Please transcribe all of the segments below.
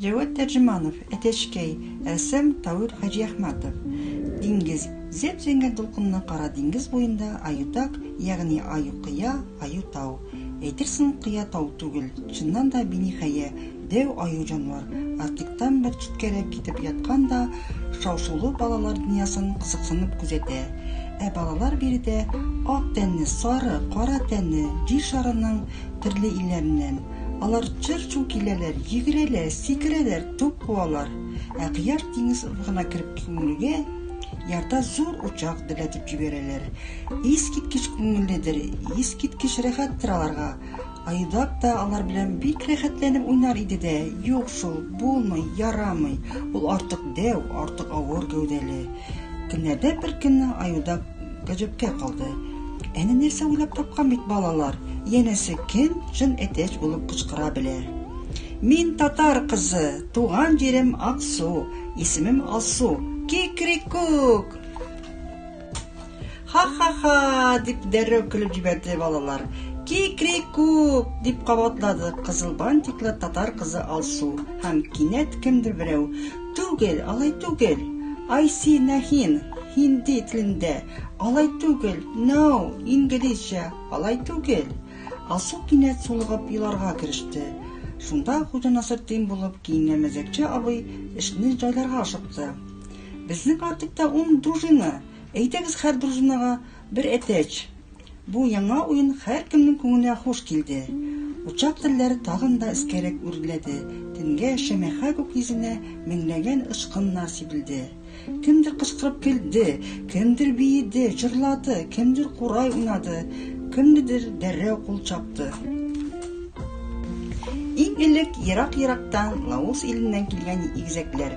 Җәвәт Тәрҗеманов, Әтәчкәй, рәссам Тауил Хаҗиәхмәтов. Диңгез. Зәп-зәңгәр дулкынлы кара диңгез буенда Аютак, ягъни Аю-кыя, Аю-тау. Әйтерсең, кыя тау түгел, чыннан да биниһая Дәү аю җанвар Артиктан бер читкәрәк китеп яткан да, шау-шулы балалар дөньясын кызыксынып күзәтә. Ә балалар биредә ак тәнле, сары, кара тәнле, Җир шарының төрле илләреннән. Алар чыр-чу киләләр, йөгерәләр, сикерәләр, туп куалар. Ә Кояш диңгез офыгына кереп күмелүгә, ярда зур учак дөрләтеп җибәрәләр. Искиткеч күңелледер, искиткеч рәхәттер аларга. Айдак та алар белән бик рәхәтләнеп уйнар иде дә, юк шул, булмый, ярамый, ул артык дәү, артык авыр гәүдәле. Көннәрдән бер көнне Айдак гаҗәпкә калды. Әнә нәрсә уйлап тапкан бит балалар, янәсе кем җын әтәч булып кычкыра белә. Мин татар кызы, туган җирем Аксу, исемем Алсу. Кикрикук! Ха-ха-ха! дип дәррәү көлеп җибәрде балалар. Ки-кри-ку! дип кабатлады кызыл бантиклы татар кызы Алсу. Һәм кинәт кемдер берәү, Түгел, алай түгел! Айси нәһин, һинди телендә, алай түгел, no, инглизчә, алай түгел. Алсу кинәт сулыгып еларга кереште. Шунда Хуҗа Насретдин булып киенгән мәзәкче абый эшне җайларга ашыкты. Безнең артыкта ун дужина, Әйдәгез хәр дружинага бер әтәч! Бу яңа уен хәркемнең күңенә хуш килде. Учак телләре тагын да эскәрәк үрләде, төнгә шәмәхә күкйөзенә меңләгән очкыннар сибелде. Кемдер кычкырып көлде, кемдер биеде, җырлады, кемдер курай уйнады, кемнедер дәррәү кул чапты. Иң элек ерак-ерактан, Лаос иленнән килгән игезәкләр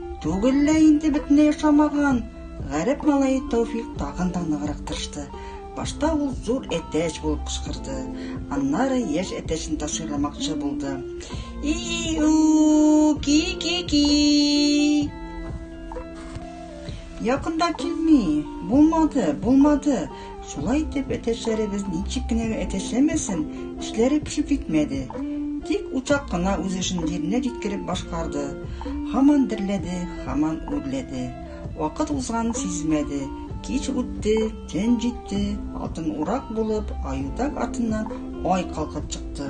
Түгел лә инде бөтенләй ошамаган. Гарәп малае Тәүфик тагын да ныграк тырышты. Башта ул зур әтәч булып кычкырды. Аннары яшь әтәчен ташыйламакчы булды. И-у, ки-ки-ки. Якында килми. Булмады, булмады. Шулай итеп, әтәчләребез ничек кенә дә әтәчләмәсен, эшләре пешеп китмәде. Тик учак кына үз эшен җиренә җиткереп башкарды. Һаман дөрләде, һаман үрләде. Вакыт узганын сизмәде. Кич үтте, төн җитте, атын урак булып, аютак артыннан ай калкып чыкты.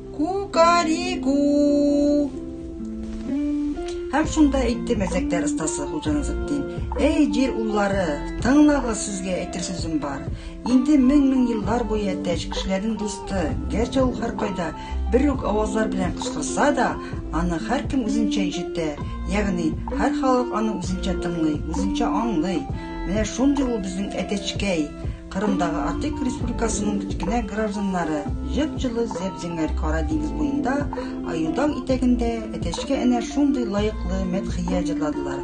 Кукарику! Һәм шунда әйтте мәзәкләр остасы Хуҗа Назетдин. Әй, җир уллары, тыңлагыз, сезгә әйтер сүзем бар. Инде мең-мең еллар буе әтәч кешеләрнең дусты, гәрчә ул һәркайда бер үк авазлар белән кычкырса да, аны һәркем үзенчә ишетә, ягъни һәр халык аны үзенчә тыңлый, үзенчә аңлый. Менә шундый ул безнең әтәчкәй. Кырымдагы Атык республикасының кечкенә гражданнары җып-җылы зәп-зәңгәр Кара диңгез буенда, Аютау итәгендә Әтәчкә әнә шундый лаеклы мәдхия җырладылар.